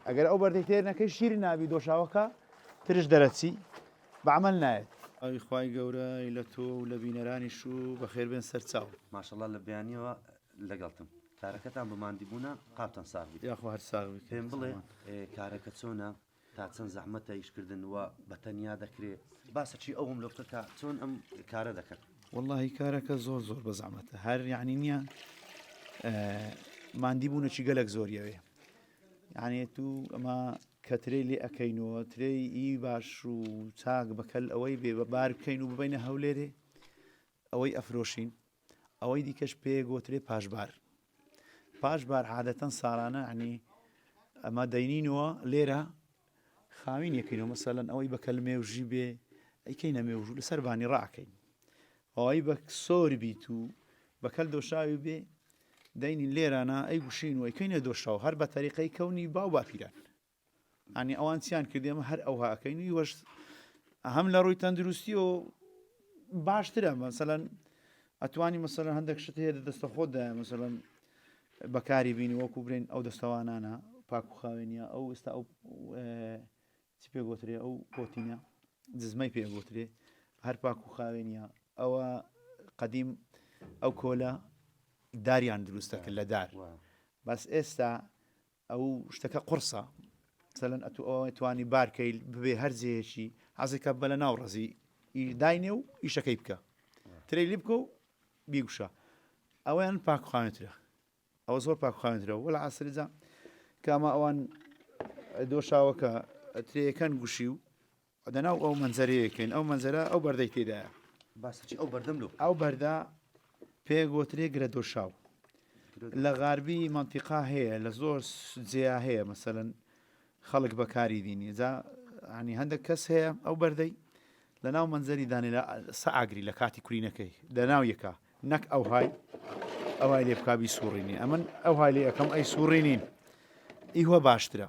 ئەگەر ئەو بەردەی تێر نەکەی شیرن نابی دۆشاوەکە ترش دەرەچی بە عەمەل نایەت. ئاوی خوای گەورە ی لە تۆ و لە بینەرانیش و بەخێر بێن سەر چاو. ماشاءاللە لە بەیانیەوە لەگەڵتم. کارەکەتان بە ماندی بوونە قاپتان ساغ بیت. یاخوا هەر ساغ بیت. پێم بڵێ کارەکە چۆنە تا چەند زەحمەتە ئیش کردن وە بە تەنیا دەکرێ باسە چی ئەو هەملۆ بکە کە چۆن ئەم کارە دەکەن. وەڵاهی کارەکە زۆر زۆر بە زەحمەتە هەر یەعنی نییە ماندی بوونەچی گەلەک زۆریەوێ یانێ تو ئەمە کە ترێی لێ ئەەکەین و ترێی ئی باش و چاک بەکەل ئەوەی بێ بە بار بکەین و ببینە هەولێرێ ئەوەی ئەفرۆشین ئەوەی دیکەش پێ گۆترێ پاشبار پاشبار عادەتەن ساڵانە عنی ئەمە دەینینەوە لێرە خاوین یەکین و مەسەلەن ئەوەی بە کەل مێوژی بێ ئەیکەینە مێوژوو لەسەر بانی ڕاکەین ئەوەی بە سۆر بیت و بە کەل دۆشاوی بێ دەینی لێرانە ئەی گوشین و ئەیکەینە دۆشاو هەر بە تەریقەی کەونی باو باپیران ئەنی ئەوان چیان کردێمە هەر ئەو هاکەین و وەش هەم لە ڕووی تەندروستی و باشترە مەسەەن ئەتوانی مەسەلەن هەندێک شت هەیە دەستە خۆت دایە مەسەلەن بەکاری بینی وەکو برێن ئەو دەستەوانانە پاک و خاوێنە ئەو ئێستا ئەو چی پێ گوترێ ئەو کۆتینە دزمەی پێ گوترێ هەر پاک و خاوێنە ئەوە قەدیم ئەو کۆلە داریان دروستەکە لە دار بەس ئێستا ئەو شتەکە قوڕسە مەسەلەن ئەتوو ئەوە توانی بارکەیل ببێ هەر جێیەکی حەزێکە بە لە ناو ڕزی داینێ و ئیشەکەی بکە ترەی لی بکە و بیگوشە ئەویان پاکخواێنترە ئەوە زۆر پاکخواێنترە وەلا عسرجا کاما ئەوان دۆشاوەکە ترەکان گوشی و و دەناو ئەو مەنزەرەیە کەین ئەو مەنزەرە ئەو بەردەی تێدایە. باسە چی ئەو بەردەم لۆ بکە. ئەو بەردە پێ گۆترێ گرە دۆشاو لە غاربی مەنتیقا هەیە لە زۆر جێیا هەیە مەسەلەن خەڵک بەکاری دینی جا ینی هەندێک کەس هەیە ئەو بەردەی لە ناو مەنزەری دانێ لە سەعاگری لە کاتی کورینەکەی لە ناو یەکە نەک ئەو های ئەوای لێ بکبی سوڕینی ئەمن ئەو های لێ ئەەکەم ئەی سوڕینین ئیوە باشترە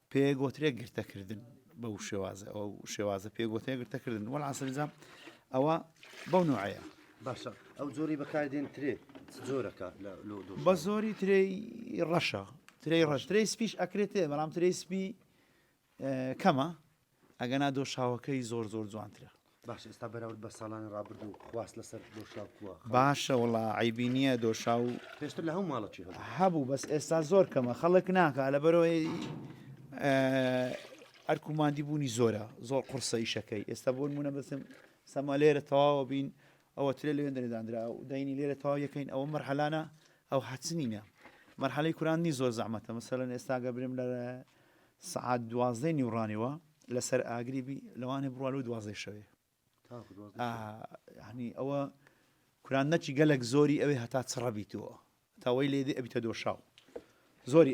پێگوترێ گرتە کردن بە و شێوازە ئەو شێوازە پێگوتێ گرتە کردن وەڵ عسریزا ئەوە بەو نوعەیە باشە ئەو زۆری بەکاردێن ترێ زۆرەکە بە زۆری ترێ ڕەشە ترێ ڕەش ترێ سپیش ئەکرێتێ بەڵام ترێ سپی کەمە ئەگەنا دۆشاوەکەی زۆر زۆر جوانترە. باشە ئێستا بەراورد بە ساڵانی ڕابردوو خواست لەسەر دۆشاو کووە؟ باشە وەڵا عەیبی نییە دۆشاو. پێشتر لە هەموو ماڵەکی هەبوو. هەبوو بەس ئێستا زۆر کەمە خەڵک ناکا لە بەرەوەی ئەرک و مادی بوونی زۆرە زۆر قورسە ئیشەکەی ئێستا بۆ نموونە بەسم سەما لێرە تەواوە بین ئەوە ترێ لە وێندەێ دانرا و دەینی لێرە تەواو یەکەین ئەوە مەرحەلانە ئەو حەچنینە مەرحەلەی کوراندنی زۆر زەحمەتە مەسەلەن ئێستاگە برم لە سعات دوازدەی نیوڕانیەوە لەسەر ئاگری بی لەوانێ بڕوان و دوازدەی شەوێ هەنی ئەوە کوران نەچی گەلک زۆری ئەوێ هەتا چڕەبییتەوە تاوەی لێدی ئەبیتە دۆشاو زۆری